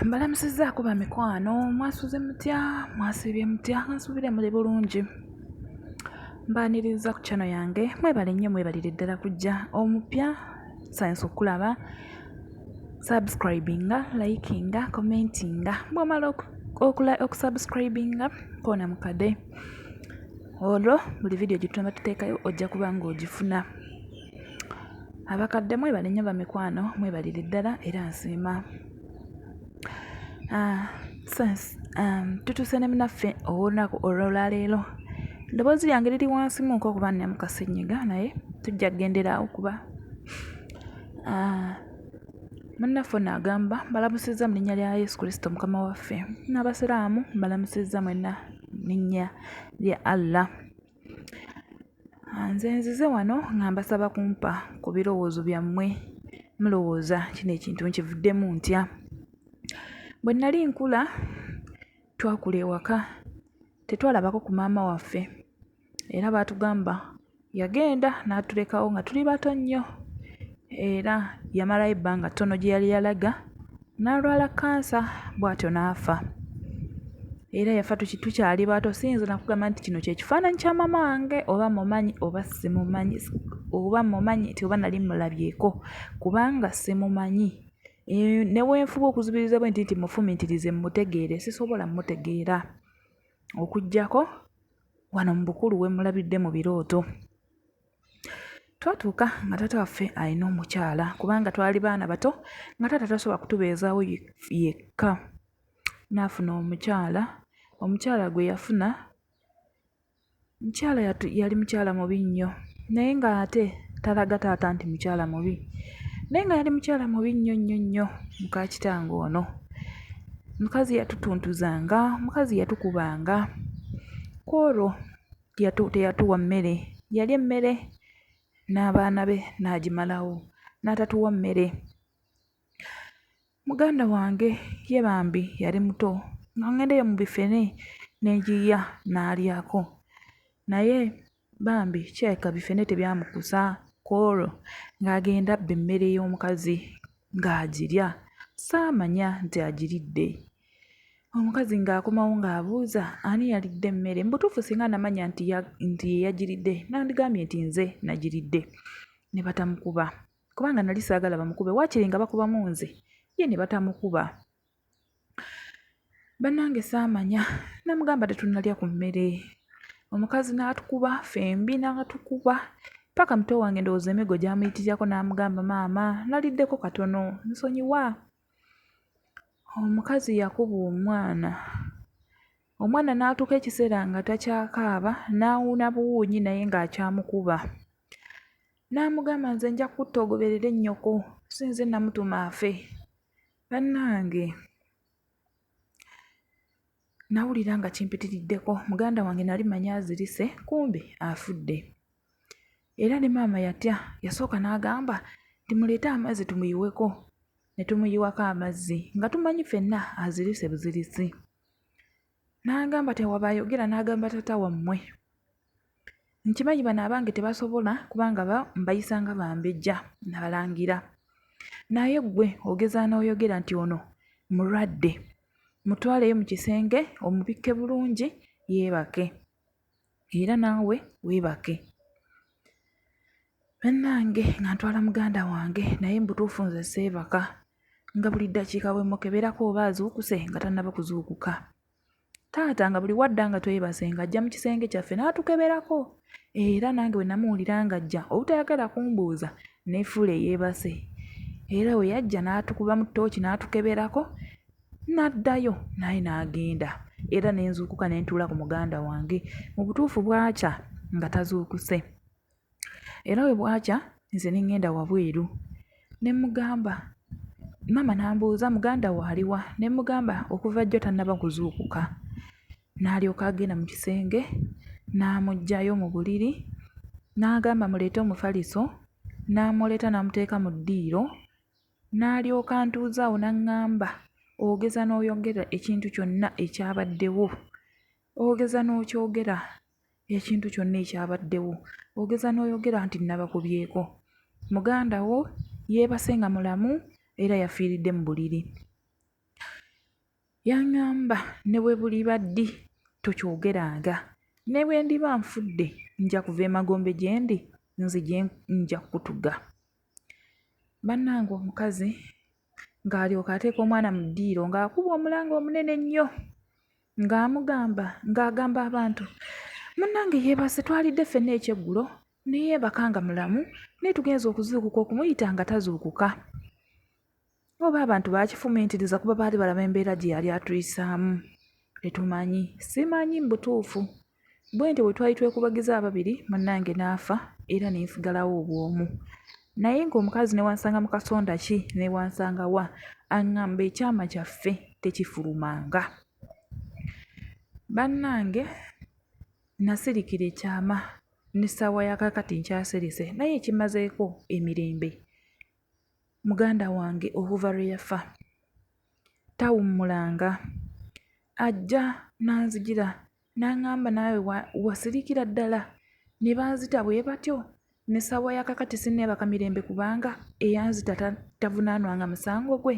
mbalamusizzaako bamikwano mwasuze mutya mwasiibye mutya nsuubire muli bulungi mbaniriza ku kyano yange mwebale nnyo mwebalire ddala kujja omupya sayansi okulaba subscribinga likinga commentinga bwomala okusubscribinga koona mukade olwo buli vidiyo gyetunaba tuteekayo ojja kuba ng'ogifuna Abakadde mwebale nnyo bamikwano mwebalire ddala era nsiima ah, sense um, tutuuse ne munaffe ow'olunaku olwolwaleero eddoboozi lyange liri wansi muko okuba nnamu kasenyiga naye tujja kugendera awo kuba ah, munnaffe ono agamba mbalamusizza mu linnya lya yesu kristo mukama waffe n'abasiraamu mbalamusizza mwenna linnya lya allah Nze nzize wano nga mbasaba kumpa ku birowoozo byammwe mulowooza kino ekintu nkivuddemu ntya? Bwe nnali nkula twakula ewaka tetwalabako ku maama waffe era baatugamba yagenda n'atulekawo nga tuli bato nnyo era yamalayo ebbanga ttono gye yali yalaga. n'alwala kkansa bw'atyo n'afa era yafa tukyali bato siyinza nakugamba nti kino kyekifaananyi kya maama wange oba mumanyi oba simumanyi oba mumanyi nti oba nali mulabyeko kubanga simumanyi ne bwenfuba okuzibiriza bwe nti nti mufumitirize mmutegeere sisobola mmutegeera okuggyako wano mu bukulu we mmulabidde mu birooto Twatuuka nga taata waffe alina omukyala kubanga twali baana bato nga taata tasobola kutubeezaawo yekka. N'afuna omukyala, omukyala gwe yafuna omukyala yali mukyala mubi nnyo naye ng'ate talaga taata nti mukyala mubi naye nga yali mukyala mubi nnyo nnyo nnyo muka kitange ono. Omukazi yatutuntuzanga, omukazi yatukubanga kw'olwo. teyatuwa mmere, yalya emmere n'abaana be n'agimalawo n'atatuwa mmere. Muganda wange ye bambi yali muto nga ŋŋenda eyo mu bifene ne ngiyiya n'alyako naye bambi kirabika bifene tebyamukusa kw'olwo ng'agenda abba emmere y'omukazi ng'agirya, saamanya nti agiridde. omukazi ng'akomawo ng'abuuza ani yalidde emmere mbutuufu singa namanya nti nti yeyagiridde nandigambye nti nze nagiridde ne batamukuba kubanga nali saagala bamukube waakiri nga bakubamu nze ye ne batamukuba bannange saamanya namugamba tetunnalya ku mmere omukazi n'atukuba fembi n'atukuba paka muto wange ndowooza emigo gyamuyitirirako n'amugamba maama naliddeko katono nsonyiwa Omukazi yakuba omwana, omwana n'atuuka ekiseera nga takyakaaba n'awuuna buwuunyi naye ng'akyamukuba. N'amugamba nze nja kukutta ogoberere nnyoko, si nze namutuma afe. Bannange nnawulira nga kimpitiriddeko, muganda wange nali mmanyi azirise kumbe afudde. Era ne maama yatya, yasooka n'agamba nti, muleete amazzi tumuyiweko. Ne tumuyiwako amazzi nga tumanyi ffenna azirise buzirise. N'agamba tewaba ayogera n'agamba taata wammwe, nkimanyi bano abange tebasobola kubanga mbayisa nga bambejja na balangira. Naye ggwe ogeza n'oyogera nti ono mulwadde. Mutwaleyo mu kisenge omubikke bulungi yeebake. era naawe weebake. Bannange nga ntwala muganda wange naye mu butuufu nze seebaka nga buli ddakiika bwe mmukeberako oba azuukuse nga tannaba kuzuukuka. Taata nga buli w'adda nga twebase ng'ajja mu kisenge kyaffe n'atukeberako era nange bwe namuwulira ng'ajja obutayagala kumbuuza neefuula eyeebase era bwe yajja n'atukubamu ttooki n'atukeberako N'addayo naye n'agenda era ne nzuukuka ne ntuula ku muganda wange. Mu butuufu bwakya nga tazuukuse era bwe bwakya nze ne ŋŋenda wabweru ne mmugamba, maama n'ambuuza muganda wo ali wa? Ne mmugamba okuva jjo tannaba kuzuukuka. N'alyoka agenda mu kisenge n'amuggyayo mu buliri n'agamba muleete omufaliso n'amuleeta n'amuteeka mu ddiiro N'alyoka antuuza awo n'aŋŋamba, Ogeza n'oyogera ekintu kyonna ekyabaddewo? Ogeza n'okyogera ekintu kyonna ekyabaddewo? Ogeza n'oyogera nti nnabakubyeko? Muganda wo yeebase nga mulamu era yafiiridde mu buliri. Yaŋŋamba, Ne bwe buliba ddi, tokyogeranga. Ne bwe ndiba nfudde, nja kuva emagombe gye ndi, nzije nja kukutuga. Bannange omukazi ng'alyoka ateeka omwana mu ddiiro ng'akuba omulanga omunene ennyo ng'amugamba ng'agamba abantu, munnange yeebase twalidde ffenna ekyeggulo ne yeebaka nga mulamu naye tugenze okuzuukuka okumuyita nga tazuukuka. oba abantu bakifumiitiriza kuba baali balaba embeera gye yali atuyisaamu tetumanyi simanyi mu butuufu bwentyo bwe twali twekubagiza ababiri munnange n'afa era ne nsigalawo obwomu naye ng'omukazi ne wansanga mu kasonda ki ne wansanga wa aŋŋamba ekyama kyaffe tekifulumanga bannange nasirikira ekyama n'essaawa ya kakati nkyasirise naye ekimazeeko emirembe Muganda wange okuva lwe yafa tawummulanga. Ajja n'anzijira n'aŋŋamba naawe wasirikira ddala? Ne banzita bwe batyo ne ssaawaya kaakati sinneebaka mirembe kubanga eyanzita tavunaanwanga musango gwe.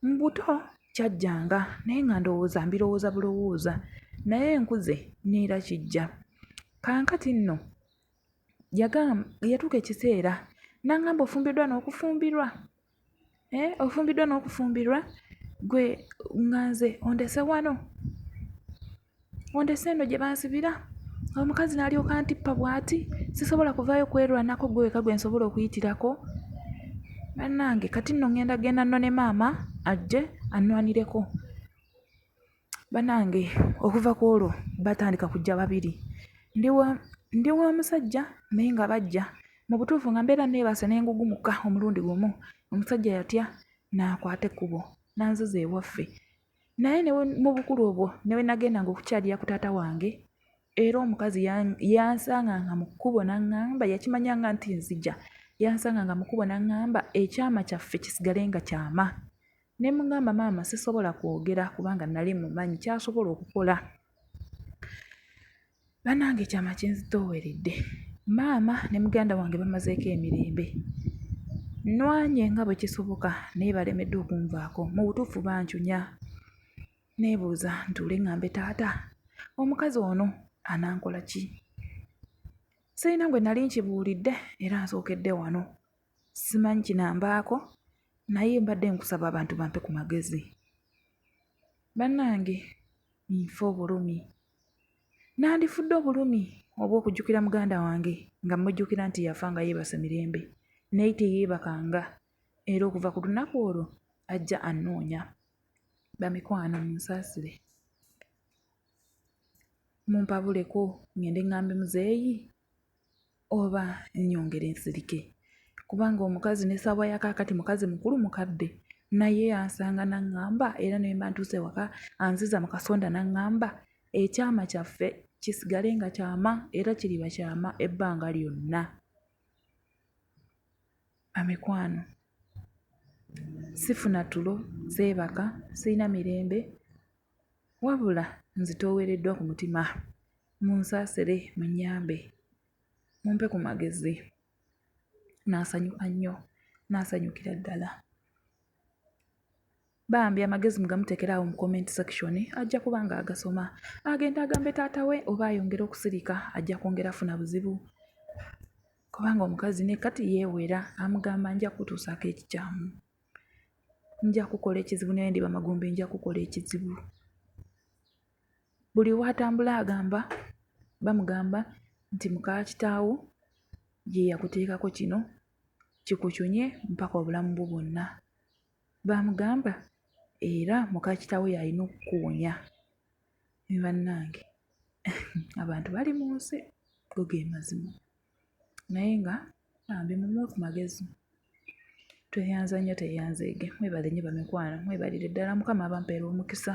Mu buto kyajjanga naye nga ndowooza mbirowooza bulowooza naye nkuze neera kijja. Kaakati nno. yatuuka ekiseera n'aŋŋamba ofumbiddwa n'okufumbirwa hee ofumbiddwa n'okufumbirwa ggwe nga nze ondese wano ondese eno gye bansibira omukazi n'alyoka antippa bwati sisobola kuvaayo kwerwanako ggwe wekka gwe nsobola okuyitirako bannange kati nno ŋŋenda genda nnone maama ajje annwanireko. Banange okuva kwolwo batandika kujja babiri ndi wa musajja naye nga bajja mu butuufu nga mbeera nneebase ne ngugumuka omulundi gumu omusajja yatya n'akwata ekkubo n'anziza ewaffe naye ne mu bukulu obwo ne we nagendanga okukyalira ku taata wange era omukazi yansanganga mu kkubo n'aŋŋamba yakimanyanga nti nzija yansanganga mu kkubo n'aŋŋamba ekyama kyaffe kisigale nga kyama. ne mugamba maama sisobola kwogera kubanga nali mumanyi kyasobola okukola banange ekyama kinzitooweredde maama ne muganda wange bamazeeko emirembe nwanye nga bwe kisoboka naye balemeddwa okunvaako mu butuufu bancunya neebuuza ntuule ngambe taata omukazi ono anankola ki sirina gwe nali nkibuulidde era nsookedde wano Simanyi kinambaako naye mbadde nkusaba abantu bampe ku magezi. Bannange nfa obulumi. Nandifudde obulumi obw'okujjukira muganda wange nga mmujjukira nti yafa nga yeebase mirembe naye teyeebakanga era okuva ku lunaku olwo ajja annoonya. Bamikwano munsaasire. Mumpabuleko ngende ŋŋambe muzeeyi. oba nnyongere nsirike kubanga omukazi ne ssaawa ya kaakati mukazi mukulu mukadde naye ansanga n'aŋŋamba era ne mba ntuuse ewaka anziza mu kasonda n'aŋŋamba ekyama kyaffe kisigale nga kyama era kiriba kyama ebbanga lyonna bamikwano sifuna tulo seebaka sirina mirembe Wabula nzitoowereddwa ku mutima, munsaasire munnyambe mumpe ku magezi. Nasanyuka nnyo, nasanyukira ddala. Bambi amagezi mugamuteekere awo mu comment section ajja kuba ng'agasoma agende agambe taata we oba ayongere okusirika ajja kwongera afuna buzibu kubanga omukazi ne kati yeewera amugamba nja kutuusaako ekikyamu. nja kukola ekizibu naye ndi bamagombe nja kukola ekizibu buli watambula agamba bamugamba nti mukakitaawo ye yakuteekako kino kikucunye mpaka obulamu bwo bwonna bamugamba era mukakitaawo yalina okukuwonya ne bannange abantu bali mu nsi go ge mazima naye nga bambi mumuwe ku magezi tweyanza nnyo tweyanzeege mwebale nnyo bamikwano mwebalire ddala mukama abamupeere omukisa.